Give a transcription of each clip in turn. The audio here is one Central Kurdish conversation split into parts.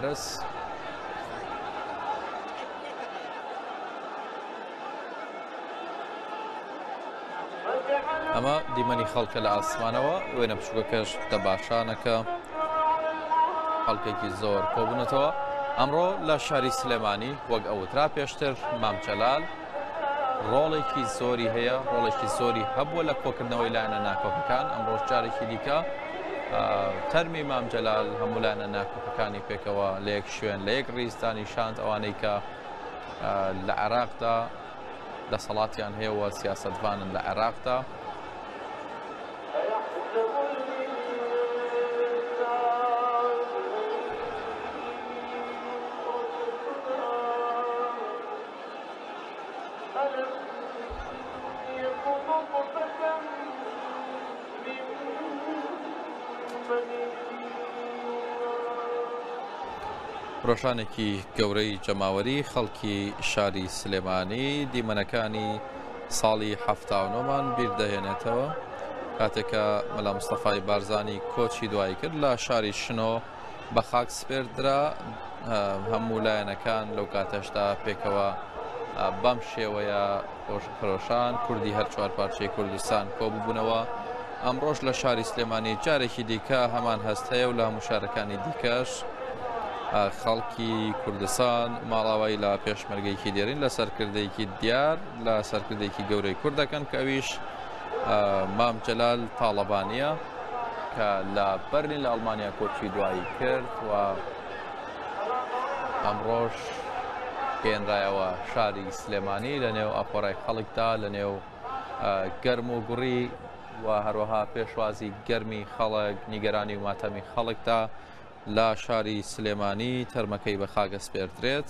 بەس ئەمە دیمەنی خەڵکە لە ئاسمانەوە وێنە بچووکەکەش دە باشانەکە خەڵکێکی زۆر کۆبوونەتەوە ئەمڕۆ لە شاری سلێمانی وەک ئەوترا پێشتر مامچەلال ڕۆڵێکی زۆری هەیە ڕۆڵێکی زۆری هەبووە لە کۆکردنەوەی لایەنە ناکۆکەکان ئەم ڕۆژ جارێکی دیکە تەرمی مامجلال هەمولانە ناکۆکەکانی پێکەوە لە یەک شوێن لە یەک ڕیزدانی شانت ئەوانەی کە لە عێراقدا دەسەڵاتیان هەیەەوە سیاستڤانن لە عێراقدا ڕۆژانێکی گەورەی جەماوەری خەڵکی شاری سلێمانی دیمەنەکانی ساڵی هەفتاونۆمان بیردەهێنێتەوە کاتێکە مەلا مستەفای بارزانانی کۆچی دوایی کرد لە شاری شنۆ بە خاک سپێردرا هەموو لایەنەکان لەو کاتەشدا پێکەوە بەم شێوەیە خۆشخرۆشان کوردی هەر چوار پارچەی کوردستان کۆببوونەوە ئەمڕۆژ لە شاری سلێمانی جارێکی دیکە هەمان هەست هەیە و لە هەموو شارەکانی دیکەش خەڵکی کوردستان ماڵاوایی لە پێشمەرگەیەکی دێرین لە سەرکردێکی دیار لە سەرکردێکی گەورەی کورد دەکەن کەویش مام جەلال تاڵەبانیە کە لە بەرلین لە ئەڵمانیا کۆچی دوایی کرد و ئەمڕۆژ گەێنرایەوە شاری سلێمانی لە نێو ئاپۆرای خەڵکدا لە نێو گەرم و گوڕی و هەروەها پێشوازی گەرمی خەڵک نیگەرانی و ماتەمی خەڵکدا لە شاری سلێمانی تەرمەکەی بە خاگەسپێردرێت.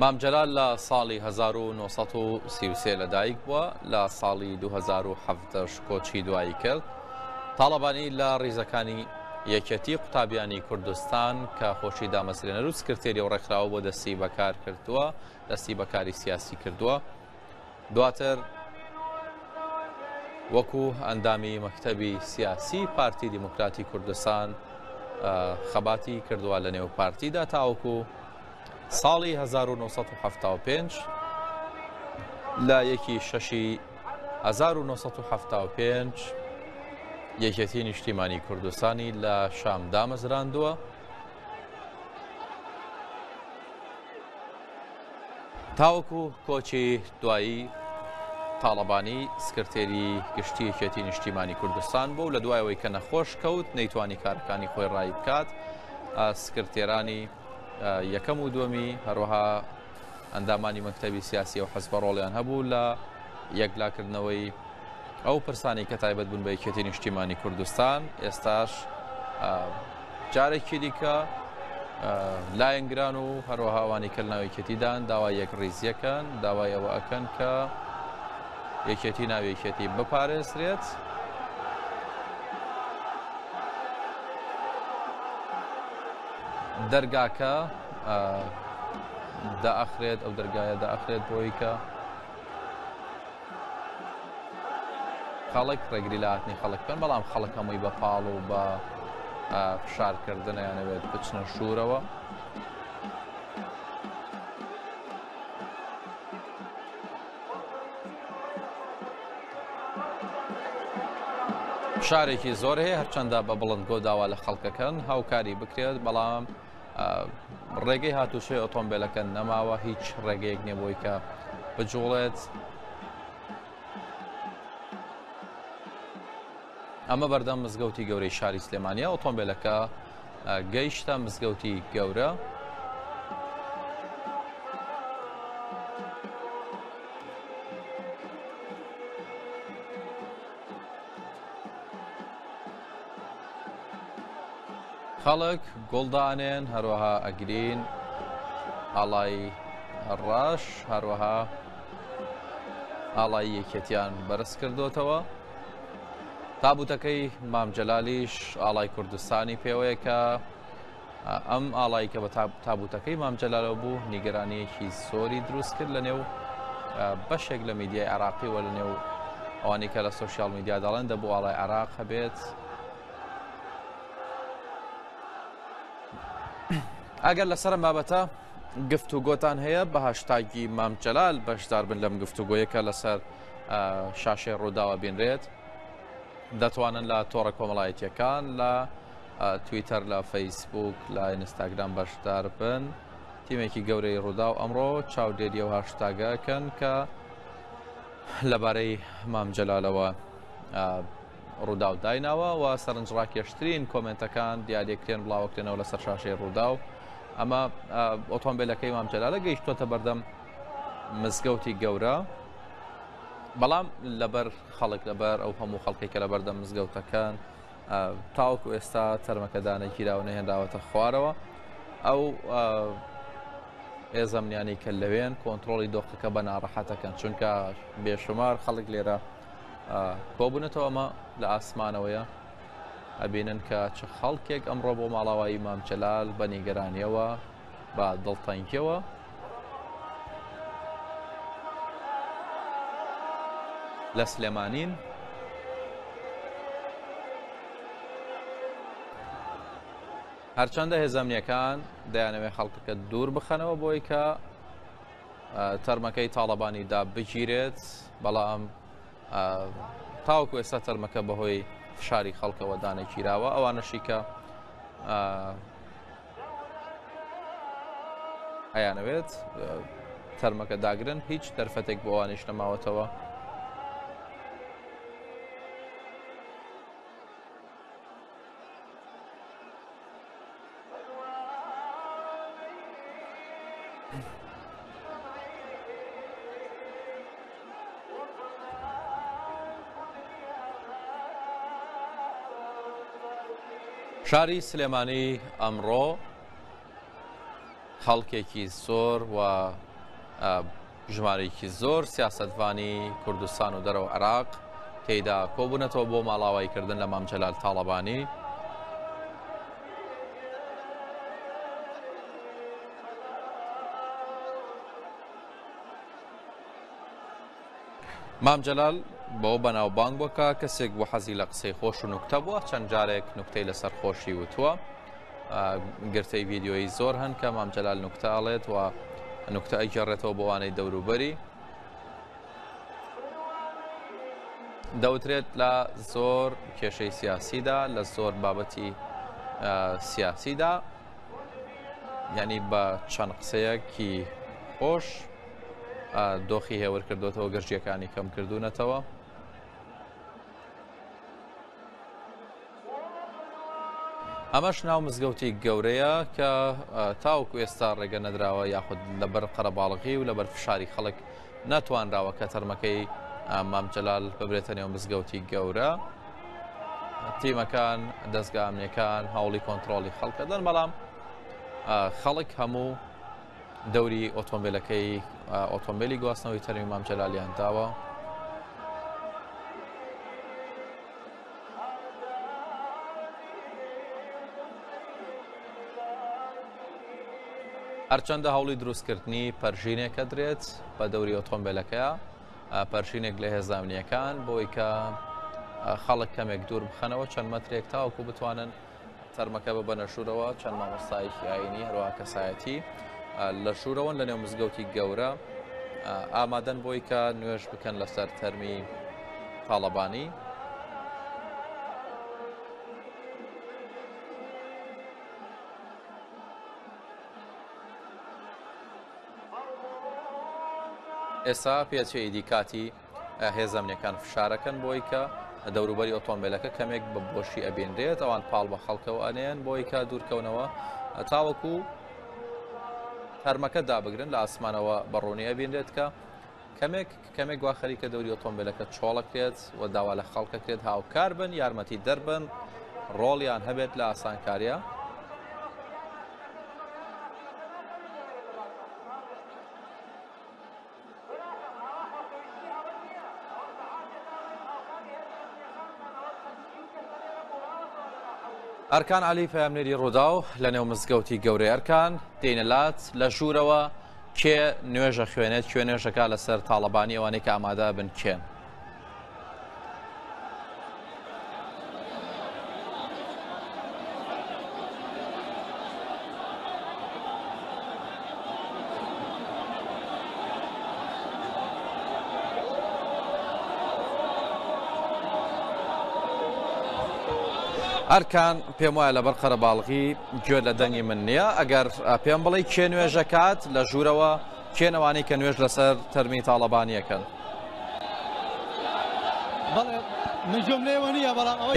مام جەلال لە ساڵی 1933 لەدایک بووە لە ساڵی 2017 کۆچی دوایی کرد تاڵەبانی لە ڕیزەکانی یەکەتی قوتابیانی کوردستان کە خۆشی دامەزرێنەر و سکرتێری و ڕێکخراوە بۆ دەستی بەکار کردووە دەستی بەکاری سیاسی کردووە دواتر وەکو ئەندامی مەکتەبی سیاسی پارتی دیموکراتی کوردستان خەباتی کردووە لە نێو پارتیدا تاوەکو ساڵی 1975 لە یەکی شەشی 1975 یەکێتی نیشتیمانی کوردستانی لە شام دامەزراندووە تاوەکو کۆچی دوایی تاڵەبانی سکرتێری گشتی یەکێتی نیشتیمانی کوردستان بوو لە دوایەوەی کە نەخۆش کەوت نەیتوانی کارەکانی خۆی ڕای بکات سکرتێرانی یەکەم و دومی هەروەها ئەندامانی مەکتتەبی سیاسی و حەزبە ڕۆڵیان هەبوو لە یەکلاکردنەوەی ئەو پرسانی کە تایبەت بوون بە یەکێتی نیشتیمانی کوردستان ئێستاش جارێکی دیکە لایەنگران و هەروەها ئەوانی کە ناوێکێتیدان داوای یەک ڕیزیەکەن داوای ئەوە ئەکەن کە یەکێتی ناوێکێتی بپارێزرێت. دەرگاکە داخرێت ئەو دەرگایە داخرێت بۆی کە خەڵک ڕێگری لە هاتنی خەڵک بکەن بەڵام خەڵک هەمووی بە پاڵ و بە فشارکردنیانەوێت بچنە شوورەوە شارێکی زۆر هەیە هەرچەندە بە بڵند گۆداوا لە خەڵکەکەن هاوکاری بکرێت بەڵام ڕێگەی هاتوچۆی ئۆتۆمبیلەکە نەماوە هیچ ڕێگەیەک نیە بۆی کە بجوڵێت ئەمە بەردەم مزگەوتی گەورەی شاری سلێمانیا ئۆتۆمبیلەکە گەیشتە مزگەوتی گەورە خەڵک گوڵ دانێن هەروەها ئەگرین ئاڵای ڕەش هەروەها ئاڵای یەکێتیان بەرز کردوتەوە تابوتەکەی مامجلالیش ئاڵای کوردستانی پێوەیە کە ئەم ئاڵایی کە بە تابوتەکەی مام جەلالەوە بوو نیگەرانیەکی زۆری دروست کرد لە نێو بەشێک لە میدیای عراقی وە لە نێو ئەوانی کە لە سوسیال میدیا دەڵێن دەبوو ئاڵای عراق هەبێت ئەگەر لەسەر بابەتە گفت و گۆتان هەیە بە هاشتاگی مام جەلال بەشدار بن لەم گفت و گۆیەکە لەسەر شاشەی ڕووداوە بینرێت دەتوانن لە تۆڕە کۆمەڵایەتیەکان لە تویتەر لە فەیسبووک لە ئینستاگرام بەشدار بن تیمێکی گەورەی ڕووداو ئەمڕۆ چاودێری ئەو هاشتاگەکەن کە لەبارەی مام جەلالەوە ڕووداو دایناوە و سەرنجڕاکێشترین کۆمنتەکان دیارێکرێن بڵاوکرێنەوە لە سەر شاشەی ڕووداو ئەمە ئۆتۆمبیلەکەی مام جەلالە گەیشتوتە بەردەم مزگەوتی گەورە بەڵام لەبەر خەڵک لەبەر ئەو هەموو خەڵکی کە لە بەردەم مزگەوتەکان تاوەکو ئێستا تەرمەکە دانەگیراو نەهێنراوەتە خوارەوە ئەو ئێزەمنیانی کە لەوێن کۆنتترۆلی دۆخەکە بە ناڕەحەتەکەن چونکە بێشمار خەڵک لێرە کۆبوونەتەوە ئەمە لە ئاسمانەوەیە ئەبینن کە چ خەڵکێک ئەمڕۆ بۆ ماڵاوایی مامچەلال بە نیگەرانیەوە بە دڵتەنگیەوە لە سلێمانین هەرچەندە هێزەمنیەکان دەیانەوێ خەڵکەکە دوور بخەنەوە بۆی کە تەرمەکەی تاڵەبانی دا بگیرێت بەڵام تاوکو ئێستا تەرمەکە بەهۆی فشاری خەڵکەوە دانەگیراوە ئەوانەشی کە ئەیانەوێت تەرمەکە داگرن هیچ دەرفەتێک بۆ ئەوانیش نەماوەتەوە شاری سلێمانی ئەمڕۆ خەڵکێکی زۆر و ژمارەیەکی زۆر سیاستڤانی کوردستان و دەرەوە عراق تێدا کۆبوونەتەوە بۆ ماڵاواییکردن لە مامجلال تاڵەبانی مام جەلال بەوە بەناوبانگ بووە کە کەسێک بۆ حەزی لە قسەی خۆش و نوکتە بووە چەند جارێک نوکتەی لەسەر خۆشی وتووە گرتەی ڤیددیۆی زۆر هەن کە مام جەلال نوکتە ئاڵێت و نوکتە ئەگەڕێتەوە بۆوانەی دەوروبەری دەوترێت لە زۆر کێشەی سیاسیدا لە زۆر بابەتی سیاسیدا ینی بە چەند قسەیەکی خۆش دۆخی هێور کردوێتەوە گەشتیەکانی کەم کردوونەتەوە. ئەمەش ناو مزگەوتی گەورەیە کە تاوک ئێستا ڕێگە نەدراوە یاخود لەبەر قەرەباڵغی و لەبەر فشاری خەڵک ناتوانراوە کە تەرمەکەی مامجلال ببرێتە نێو مزگەوتی گەورە تیمەکان دەستگامنەکان هەوڵی کۆنتترۆلی خەڵکەدەن بەڵام خەڵک هەموو دەوری ئۆتۆمبیلەکەی ئۆتۆمبیلی گواستنەوەی تەرمی مام جەلالیان داوە. هەرچەندە هەوڵی دروستکردنی پەرژینێکە درێت بە دەوری ئۆتۆمبیلەکەیە پەرژینێک لە هێزامنیەکان بۆی کە خەڵک کەمێک دوور بخەنەوە چەند مەترێک تاوکو بتوانن تەرمەکە بە بەنەشورەوە چەند مامۆستایەکی ئاینی هەروە کەسایەتی لە شوورەوەن لە نێو مزگەوتی گەورە ئامادەن بۆی کە نوێش بکەن لەسەر تەرمی تاالبانی ئێستا پێچەیدی کاتی هێزە ئەمنیەکان فشارەکەن بۆی کە دەوروبەری ئۆتۆمبیلەکە کەمێک بە بۆشی ئەبینرێت ئەوان پاڵ بە خەڵکەوە ئەنێن بۆی کە دوورکەونەوە تاوەکو تەرمەکە دابگرن لە ئاسمانەوە بەڕوونی ئەبینرێت کە کەمێک کەمێک گوا خەریکە دەوری ئۆتۆمبیلەکە چۆڵەکرێت و داوا لە خەڵکەکرێت هاوکار بن یارمەتی دەربن ڕۆڵیان هەبێت لە ئاسانکاریە ئەرکان عەلی پەیامنێری ڕووداو لە نێو مزگەوتی گەورەی ئەرکان دێنە لات لە ژوورەوە کێ نوێژە خوێنێت کوێ نوێژەکە لەسەر تاڵەبانی ئەوانەی کە ئامادە بن کێن ئەرکان پێم وایە لەبەر قەرەباڵغی گوێ لە دەنگی من نییە ئەگەر پێم بڵێ کێ نوێژەکات لە ژوورەوە کێن ئەوانەی کە نوێژ لەسەر تەرمی تاڵەبانی ئەکەن؟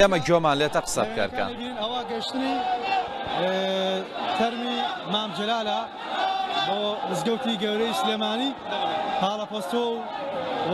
ئێمە گوێمان لێتە قسە بکەر کە ئەوە گەشتنی تەرمی مام جلالە بۆ مزگەوتی گەورەی سلێمانی پاڵەپەستۆ و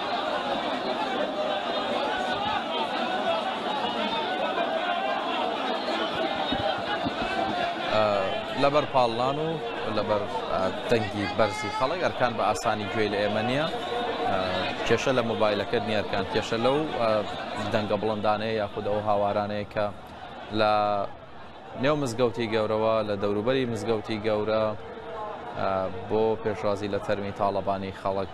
لەبەر پاڵنان و لەبەر دەنگی بەرزی خەڵک ئەرکان بە ئاسانی گوێی لە ئێمە نییە کێشە لە مۆبایلەکەت نیەرکان کێشە لەو دەنگە بڵندانەیە یاخود ئەو هاوارانەیە کە لە نێو مزگەوتی گەورەوە لە دەوروبەری مزگەوتی گەورە بۆ پێشوازی لە تەرمی تاڵەبانی خەڵک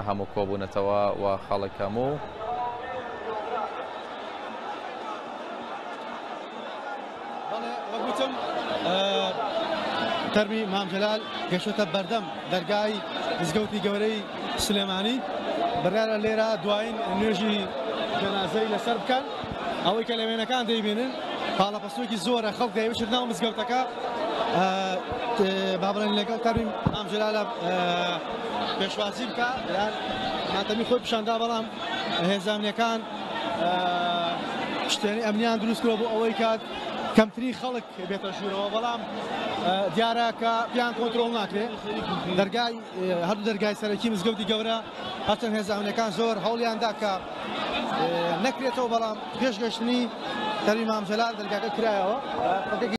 هەموو کۆبوونەتەوە و خەڵک هەموو. بەڵێ وەک وتم تەرمی مام جەلال گەشتە بەردەم دەرگای مزگەوتی گەورەی سلێمانی بڕیارە لێرە دوایین نوێژی جەنازەی لەسەر بکەن. ئەوەی کە لە وێنەکان دەیبینن پاڵەپەستۆکی زۆرە خەڵک دەیوشێت ناو مزگەوتەکە با بڵێن لەگەڵ تەرمی مام جەلالە پێشوازی بکە یان ماتەمی خۆی پیشاندا بەڵام هێزانەکان شتێنی ئەمنیان دروستکرەوە بۆ ئەوەی کات کەمتری خەڵک بێتە ژوورەوە بەڵام دیارە کە پیان کۆنتترۆل ناکرێت دەرگای هەردوو دەرگای سەرەکی مزگەوتی گەورە هەچەند هێزانەکان زۆر هەوڵیان داکە نەکرێتەوە بەڵام پێش گەشتنی سەروی مام جەلال دەرگاکە کرایەوە.